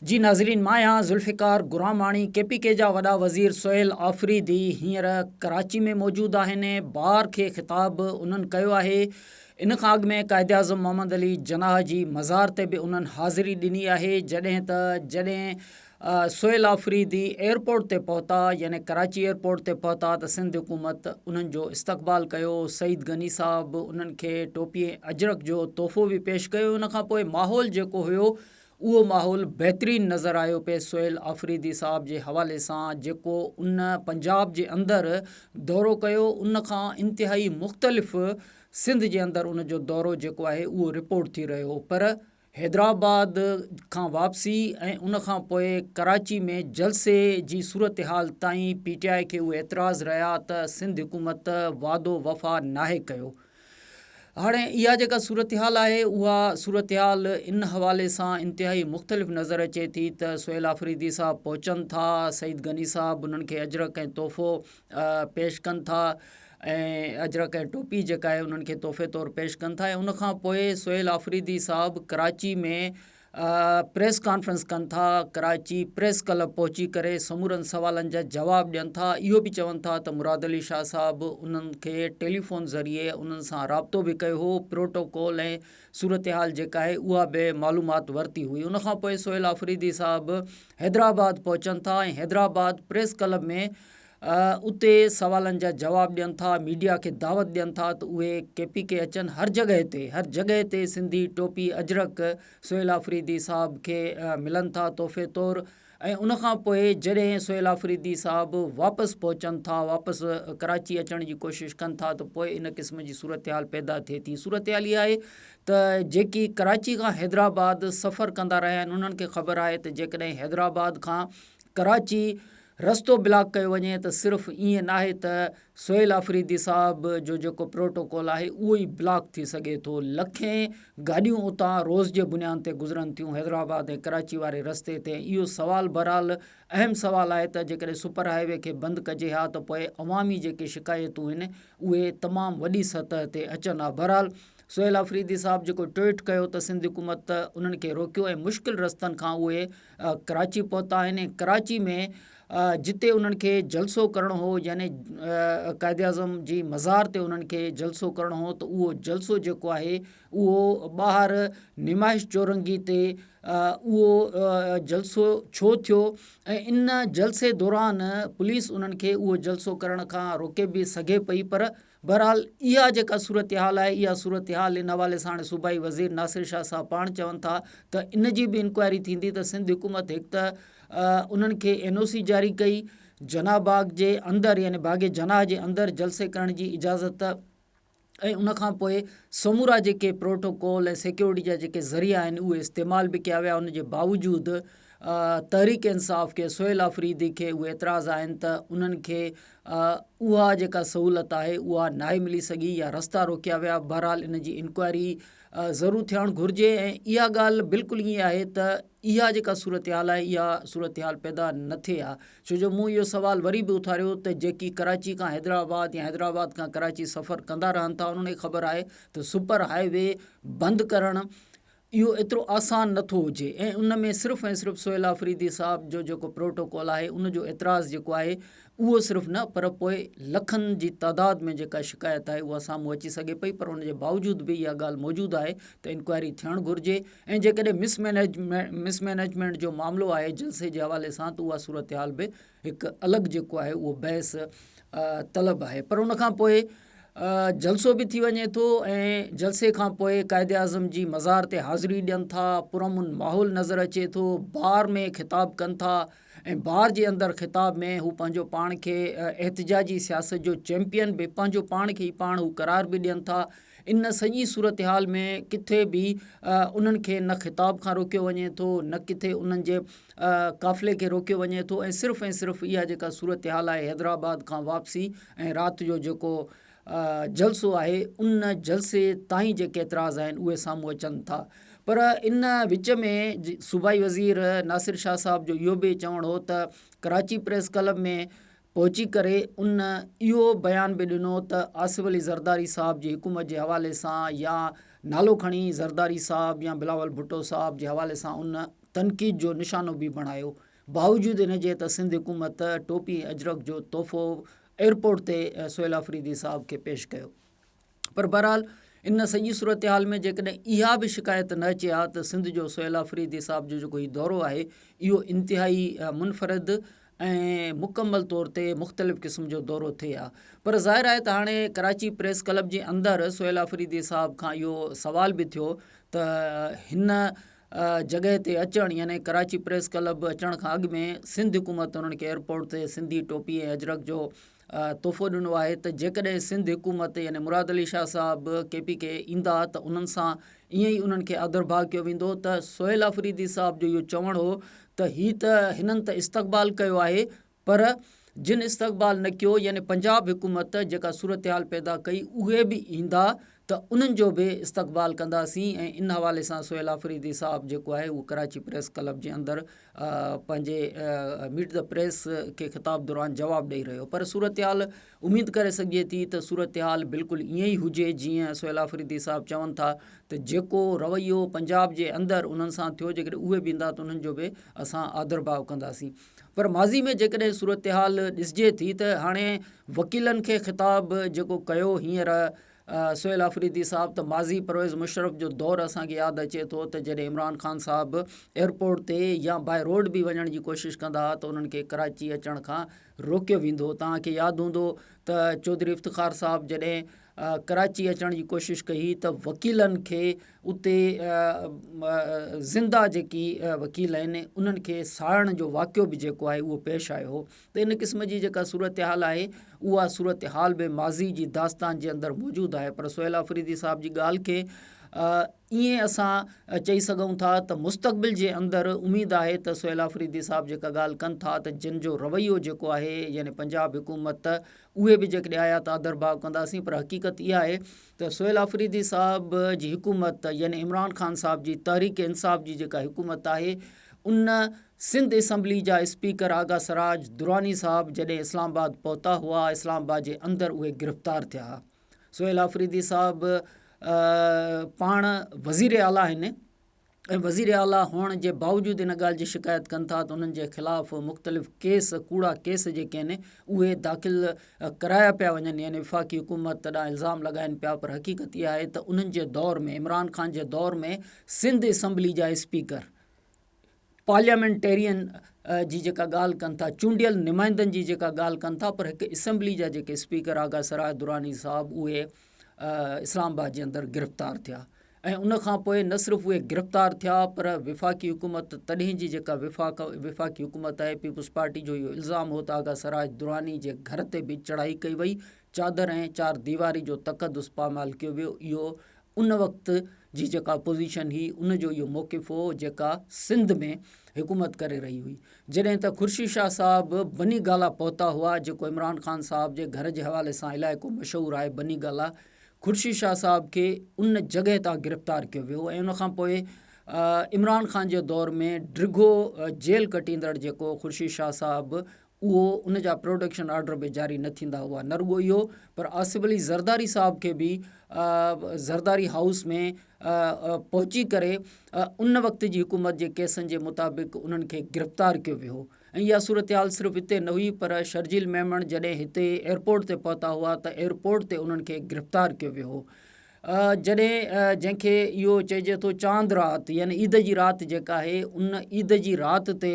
جي ناظرين مان آهيان Zulfiqar Gramani K P K جا وڏا وزير سهيل آفريدي هينئر ڪراچي ۾ موجود آهن بار کي خطاب به انهن ڪيو آهي ان کان اڳ ۾ قائداعظم محمد علي جناح جي مزار تي به انهن حاضري ڏني آهي جڏهن ته جڏهن سهيل آفريدي ايئرپورٽ تي پهتا يعني ڪراچي ايئرپورٽ تي پهتا ته سنڌ حڪومت انهن جو استقبال ڪيو سعيد غني صاحب انهن کي ٽوپي ۽ اجرڪ جو تحفو به پيش ڪيو ان کان پوء ماحول جيڪو هيو اهو ماحول بهترين نظر آيو پئي سهيل آفريدي صاحب جي حوالي سان جيڪو ان پنجاب جي اندر دورو ڪيو ان کان انتهائي مختلف سنڌ جي اندر ان جو دورو جيڪو آهي اهو رپورٽ ٿي رهيو پر حيدرآباد کان واپسي ۽ ان کان پوء ڪراچي ۾ جلسي جي صورتحال تائين پي ٽي آء کي اهي اعتراض رهيا ته سنڌ حڪومت وعدو وفا ناهي ڪيو هاڻي اها جيڪا صورتحال آهي اها صورتحال ان حوالي سان انتهائي مختلف نظر اچي ٿي ته سهيل آفريدي صاحب پهچن ٿا سعيد غني صاحب انهن کي اجرڪ ۽ تحفو پيش ڪن ٿا ۽ اجرڪ ۽ ٽوپي جيڪا آهي انهن کي تحفي طور پيش ڪن ٿا ۽ ان کان پوء سهيل آفريدي صاحب ڪراچي ۾ پريس ڪانفرنس ڪن ٿا، ڪراچي پريس ڪلب پهچي ڪري سمورن سوالن جا جواب ڏين ٿا، اهو به چون ٿا ته مراد علي شاهه صاحب انهن کي ٽيليفون ذريعي انهن سان رابطو به ڪيو هو، پروٽوڪول ۽ صورتحال جيڪا آهي اها به معلومات ورتي هئي، ان کانپوء سهيل آفريدي صاحب حيدرآباد پهچن ٿا ۽ حيدرآباد پريس ڪلب ۾ اتي سوالن جا جواب ڏين ٿا ميڊيا کي دعوت ڏين ٿا ته اهي ڪي پي ڪي اچن هر جڳهه تي هر جڳهه تي سنڌي ٽوپي اجرڪ سهيل آفريدي صاحب کي ملن ٿا تحفي طور ۽ ان کان پوء جڏهن سهيل آفريدي صاحب واپس پهچن ٿا واپس ڪراچي اچڻ جي ڪوشش ڪن ٿا ته پوء ان قسم جي صورتحال پيدا ٿئي ٿي صورتحال اها آهي ته جيڪي ڪراچي کان حيدرآباد سفر ڪندا رهيا آهن انهن کي خبر آهي ته جيڪڏهن حيدرآباد کان ڪراچي رستو بلاڪ ڪيو وڃي ته صرف ائين ناهي ته سهيل آفريدي صاحب جو جيڪو پروٽوڪول آهي اهو ئي بلاڪ ٿي سگهي ٿو لکين گاڏيون اتان روز جي بنيان تي گذرن ٿيون حيدرآباد ۽ ڪراچي واري رستي تي اهو سوال بهرحال اهم سوال آهي ته جيڪڏهن سپر هاء وي کي بند ڪجي ها ته پوء عوامي جيڪي شڪايتون هن اهي تمام وڏي سطح تي اچن ها بهرحال سهيل آفريدي صاحب جيڪو ٽوئيٽ ڪيو ته سنڌ حڪومت انهن کي روڪيو ۽ مشڪل رستن کان اهي ڪراچي پهتا آهن ۽ ڪراچي ۾ جتي انهن کي جلسو ڪرڻو هو يعني قائد اعظم جي مزار تي انهن کي جلسو ڪرڻو هو ته اهو جلسو جيڪو آهي اهو ٻاهر نمائش چورنگي تي اهو جلسو ڇو ٿيو ۽ ان جلسي دوران پوليس انهن کي اهو جلسو ڪرڻ کان روڪي به سگهي پئي پر بهرحال اها جيڪا صورتحال آهي اها صورتحال ان حوالي سان هاڻي صوبائي وزير ناصر شاهه صاحب پاڻ چون ٿا ته ان جي به انڪوائري ٿيندي ته سنڌ حڪومت هڪ ته انهن کي اين او سي جاري ڪئي جناح باغ جي اندر يعني باغ جناح جي اندر جلسي ڪرڻ جي اجازت ۽ ان کان پوء سمورا جيڪي پروٽوڪول ۽ سيڪيورٽي جا جيڪي ذريعا آهن اهي استعمال به ڪيا ويا ان جي باوجود تحريڪ انصاف کي سهيل آفريدي کي اهي اعتراض آهن ته انهن کي اها جيڪا سهولت آهي اها ناهي ملي سگهي يا رستا روڪيا ويا بهرحال ان جي انڪوائري ضرور ٿيڻ گهرجي ۽ اها ڳالهه بلڪل ائين آهي ته اها جيڪا صورتحال آهي اها صورتحال پيدا نه ٿئي ها ڇو جو مون اهو سوال وري به اٿاريو ته جيڪي ڪراچي کان حيدرآباد يا حيدرآباد کان ڪراچي سفر ڪندا رهن ٿا انهن کي خبر آهي ته سپر هاء وي بند ڪرڻ اهو ايترو آسان نه ٿو هجي ۽ ان ۾ صرف ۽ صرف سهيل آفريدي صاحب جو جيڪو پروٽوڪول آهي ان جو اعتراض جيڪو آهي اهو صرف نه پر پوء لکن جي تعداد ۾ جيڪا شڪايت آهي اها سامهون اچي سگهي پئي پر ان جي باوجود به اها ڳالهه موجود آهي ته انڪوائري ٿيڻ گهرجي ۽ جيڪڏهن مس مينيجمينٽ جو معاملو آهي جلسي جي حوالي سان ته اها صورتحال به هڪ الڳ جيڪو آهي اهو بحث طلب آهي پر ان کان پوء جلسو به ٿي وڃي ٿو ۽ جلسي کان پوء قائد اعظم جي مزار تي حاضري ڏين ٿا پر امن ماحول نظر اچي ٿو بار ۾ خطاب ڪن ٿا ۽ بار جي اندر خطاب ۾ هو پنهنجو پاڻ کي احتجاجي سياست جو چيمپيئن به پنهنجو پاڻ کي پاڻ هو قرار به ڏين ٿا ان سڄي صورتحال ۾ ڪٿي به انهن کي نه خطاب کان روڪيو وڃي ٿو نه ڪٿي انهن جي قافلي کي روڪيو وڃي ٿو ۽ صرف ۽ صرف اها جيڪا صورتحال آهي حيدرآباد کان واپسي ۽ رات جو جيڪو جلسو آهي ان جلسي تائين جيڪي اعتراض آهن اهي سامهون اچن ٿا پر ان وچ ۾ صوبائي وزير ناصر شاهه صاحب جو اهو به چوڻ هو ته ڪراچي پريس ڪلب ۾ پهچي ڪري ان اهو بيان به ڏنو ته آصف علي زرداري صاحب جي حڪومت جي حوالي سان يا نالو کڻي زرداري صاحب يا بلاول ڀٽو صاحب جي حوالي سان ان تنقيد جو نشانو به بڻايو باوجود ان جي ته سنڌ حڪومت ٽوپي ۽ اجرڪ جو تحفو ايئرپورٽ تي سهيل آفريدي صاحب کي پيش ڪيو. پر بهرحال ان سڄي صورتحال ۾ جيڪڏهن اها به شڪايت نه اچي ها ته سنڌ جو سهيل آفريدي صاحب جو جيڪو هي دورو آهي اهو انتهائي منفرد ۽ مڪمل طور تي مختلف قسم جو دورو ٿئي ها پر ظاهر آهي ته هاڻي ڪراچي پريس ڪلب جي اندر سهيل آفريدي صاحب کان اهو سوال به ٿيو ته هن جڳهه تي اچڻ يعني ڪراچي پريس ڪلب اچڻ کان اڳ ۾ سنڌ حڪومت انهن کي ايئرپورٽ تي سنڌي ٽوپي ۽ اجرڪ جو تحفو ڏنو آهي ته جيڪڏهن سنڌ حڪومت يعني مراد علي شاهه صاحب ڪي پي ڪي ايندا ته انهن سان ائين ئي انهن کي آڌرڀاء ڪيو ويندو ته سهيل آفريدي صاحب جو اهو چوڻ هو ته هي ته هنن ته استقبال ڪيو آهي پر جن استقبال نه ڪيو يعني پنجاب حڪومت جيڪا صورتحال پيدا ڪئي اهي به ايندا ته انهن جو به استقبال ڪنداسين ۽ ان حوالي سان سهيل آفريدي صاحب جيڪو آهي اهو ڪراچي پريس ڪلب جي اندر پنهنجي ميٽ دي پريس کي خطاب دوران جواب ڏئي رهيو پر صورتحال اميد ڪري سگهجي ٿي ته صورتحال بلڪل ائين ئي هجي جيئن سهيل آفريدي صاحب چون ٿا ته جيڪو رويو پنجاب جي اندر انهن سان ٿيو جيڪڏهن اهي به ايندا ته انهن جو به اسان آڌر ڀاء ڪنداسين پر ماضي ۾ جيڪڏهن صورتحال ڏسجي ٿي ته هاڻي وڪيلن کي خطاب جيڪو ڪيو هينئر سهيل آفريدي صاحب ته ماضي پرويز مشرف جو دور اسان کي ياد اچي ٿو ته جڏهن عمران خان صاحب ايئرپورٽ تي يا باء روڊ به وڃڻ جي ڪوشش ڪندا ها ته انهن کي ڪراچي اچڻ کان روڪيو ويندو توهان کي ياد هوندو ته چوڌري افتخار صاحب جڏهن ڪراچي اچڻ جي ڪوشش ڪئي ته وڪيلن کي اتي زنده جيڪي وڪيل آهن انهن کي ساڙڻ جو واقعو به جيڪو آهي اهو پيش آيو هو ته ان قسم جي جيڪا صورتحال آهي اها صورتحال به ماضي جي داستان جي اندر موجود آهي پر سهيل آفريدي صاحب جي ڳالهه کي ائين اسان چئي سگهون ٿا ته مستقبل جي اندر اميد آهي ته سهيل آفريدي صاحب جيڪا ڳالهه ڪن ٿا ته جن جو رويو جيڪو آهي يعني پنجاب حڪومت اهي به جيڪڏهن آيا ته آدر ڀاء ڪنداسين پر حقيقت اها آهي ته سهيل آفريدي صاحب جي حڪومت يعني عمران خان صاحب جي تحريڪ انصاف جي جيڪا حڪومت آهي ان سنڌ اسيمبلي جا اسپيڪر آغا سراج دراني صاحب جڏهن اسلام آباد پهتا هئا اسلام آباد جي اندر اهي گرفتار ٿيا ها سهيل آفريدي صاحب پاڻ وزير اعليٰ آهن ۽ وزير اعليٰ هئڻ جي باوجود ان ڳالهه جي شڪايت ڪن ٿا ته انهن جي خلاف مختلف ڪيس ڪوڙا ڪيس جيڪي آهن اهي داخل ڪرايا پيا وڃن يعني وفاقي حڪومت تڏهن الزام لڳائن پيا پر حقيقت اها آهي ته انهن جي دور ۾ عمران خان جي دور ۾ سنڌ اسمبلي جا اسپيڪر پارليامينٽيرين جي جيڪا ڳالهه ڪن ٿا چونڊيل نمائندن جي جيڪا ڳالهه ڪن ٿا پر هڪ اسيمبلي جا جيڪي اسپيڪر آغا سراج دراني صاحب اهي اسلام آباد جي اندر گرفتار ٿيا ۽ ان کان پوء نه صرف اهي گرفتار ٿيا پر وفاقي حڪومت تڏهن جي جيڪا وفاق وفاقي حڪومت آهي پيپلز پارٽي جو اهو الزام هو ته آغا سراج دراني جي گهر تي به چڙهائي ڪئي وئي چادر ۽ چار ديواري جو تقدس پامال ڪيو ويو اهو ان وقت جي جيڪا پوزيشن هئي ان جو اهو موقف هو جيڪا سنڌ ۾ حڪومت ڪري رهي هئي جڏهن ته خورشيد شاهه صاحب بني گالا پهتا هئا جيڪو عمران خان صاحب جي گهر جي حوالي سان علائقو مشهور آهي بني گالا خورشيد شاهه صاحب کي ان جڳهه تان گرفتار ڪيو ويو ۽ ان کان پوء عمران خان جي دور ۾ ڊگهو جيل ڪٽيندڙ جيڪو خورشيد شاهه صاحب اهو ان جا پروڊڪشن آرڊر به جاري نه ٿيندا هئا نه رڳو اهو پر آصف علي زرداري صاحب کي به زرداري هائوس ۾ پهچي ڪري ان وقت جي حڪومت جي ڪيسن جي مطابق انهن کي گرفتار ڪيو ويو ۽ اها صورتحال صرف هتي نه هئي پر شرجيل ميمڻ جڏهن هتي ايئرپورٽ تي پهتا هئا ته ايئرپورٽ تي انهن کي گرفتار ڪيو ويو هو جڏهن جنهن کي اهو چئجي ٿو چاند رات يعني عيد جي رات جيڪا آهي ان عيد جي رات تي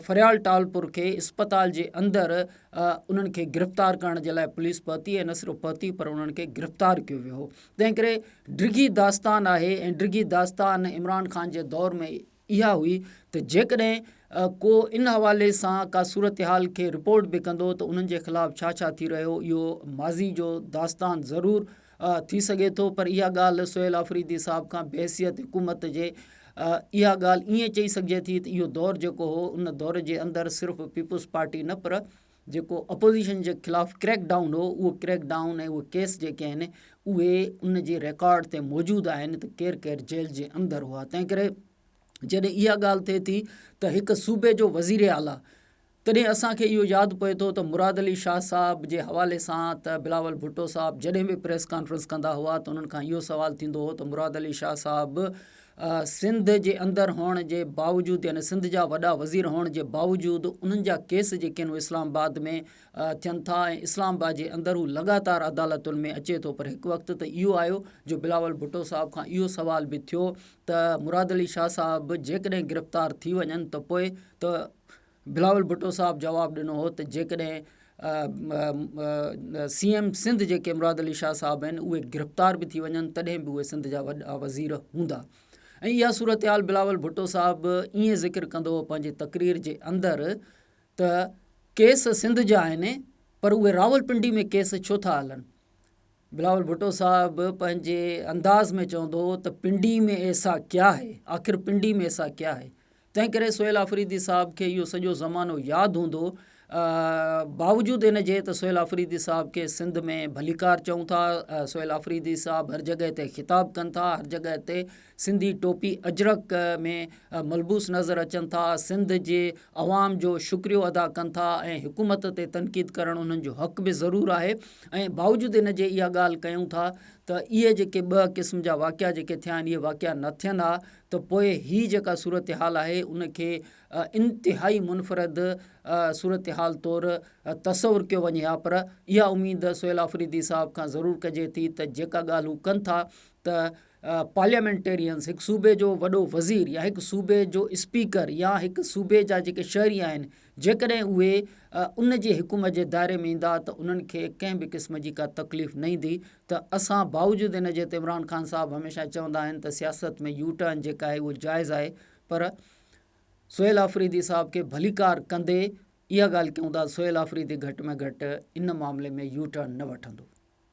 فريال ٽالپر کي اسپتال جي اندر انهن کي گرفتار ڪرڻ جي لاء پوليس پهتي ۽ نه صرف پهتي پر انهن کي گرفتار ڪيو ويو هو تنهن ڪري ڊگهي داستان آهي ۽ ڊگهي داستان عمران خان جي دور ۾ اها هئي ته جيڪڏهن ڪو ان حوالي سان ڪا صورتحال کي رپورٽ به ڪندو ته انهن جي خلاف ڇا ڇا ٿي رهيو اهو ماضي جو داستان ضرور ها ٿي سگهي ٿو پر اها ڳالهه سهيل آفريدي صاحب کان بحيثيت حڪومت جي اها ڳالهه ايئن چئي سگهجي ٿي ته اهو دور جيڪو هو ان دور جي اندر صرف پيپلز پارٽي نه پر جيڪو اپوزيشن جي خلاف ڪريڪ ڊائون هو اهو ڪريڪ ڊائون ۽ اهي ڪيس جيڪي آهن اهي ان جي ريڪارڊ تي موجود آهن ته ڪير ڪير جيل جي اندر هئا تنهن ڪري جڏهن اها ڳالهه ٿئي ٿي ته هڪ صوبي جو وزير اعليٰ تڏهن اسان کي اهو ياد پئي ٿو ته مراد علي شاهه صاحب جي حوالي سان ته بلاول ڀٽو صاحب جڏهن به پريس ڪانفرنس ڪندا هئا ته انهن کان اهو سوال ٿيندو هو ته مراد علي شاهه صاحب سنڌ جي اندر هئڻ جي باوجود يعني سنڌ جا وڏا وزير هئڻ جي باوجود انهن جا ڪيس جيڪي آهن اهي اسلام آباد ۾ ٿين ٿا ۽ اسلام آباد جي اندر هو لڳاتار عدالتن ۾ اچي ٿو پر هڪ وقت ته اهو آيو جو بلاول ڀٽو صاحب کان اهو سوال به ٿيو ته مراد علي شاهه صاحب جيڪڏهن گرفتار ٿي وڃن ته پوء ته بلاول ڀٽو صاحب جواب ڏنو هو ته جيڪڏهن سي ايم سنڌ جيڪي مراد علي شاهه صاحب آهن اهي گرفتار به ٿي وڃن تڏهن به اهي سنڌ جا وڏا وزير هوندا ۽ اها صورتحال بلاول ڀٽو صاحب ائين ذڪر ڪندو هو پنهنجي تقرير جي اندر ته ڪيس سنڌ جا آهن پر اهي راول پنڊي ۾ ڪيس ڇو ٿا هلن بلاول ڀٽو صاحب پنهنجي انداز ۾ چوندو هو ته پنڊي ۾ ايسا ڪيا هي آخر پنڊي ۾ ايسا ڪيا هي تنهن ڪري سهيل آفريدي صاحب کي اهو سڄو زمانو ياد هوندو. باوجود ان جي ته سهيل آفريدي صاحب کي سنڌ ۾ ڀليڪار چئون ٿا، سهيل آفريدي صاحب هر جڳهه تي خطاب ڪن ٿا، هر جڳهه تي سنڌي ٽوپي اجرڪ ۾ ملبوس نظر اچن ٿا، سنڌ جي عوام جو شڪريو ادا ڪن ٿا ۽ حڪومت تي تنقيد ڪرڻ انهن جو حق به ضرور آهي ۽ باوجود ان جي اها ڳالهه ڪيون ٿا ته اهي جيڪي ٻه قسم جا واقعا جيڪي ٿيا آهن اهي واقعا نه ٿين ها ته پوء هي جيڪا صورتحال آهي ان کي انتهائي منفرد صورتحال طور تصور ڪيو وڃي ها پر اها اميد سهيل آفريدي صاحب کان ضرور ڪجي ٿي ته جيڪا ڳالهه هو ڪن ٿا ته پارليامينٽيرينز هڪ صوبي جو وڏو وزير يا هڪ صوبي جو اسپيڪر يا هڪ صوبي جا جيڪي شهري آهن جيڪڏهن اهي ان جي حڪم جي دائري ۾ ايندا ته انهن کي ڪنهن به قسم جي ڪا تڪليف نه ايندي ته اسان باوجود ان جي ته عمران خان صاحب هميشه چوندا آهن ته سياست ۾ يو ٽرن جيڪا آهي اهو جائز آهي پر سهيل آفريدي صاحب کي ڀليڪار ڪندي اها ڳالهه ڪيون ٿا سهيل آفريدي گهٽ ۾ گهٽ ان معاملي ۾ يو ٽرن نه وٺندو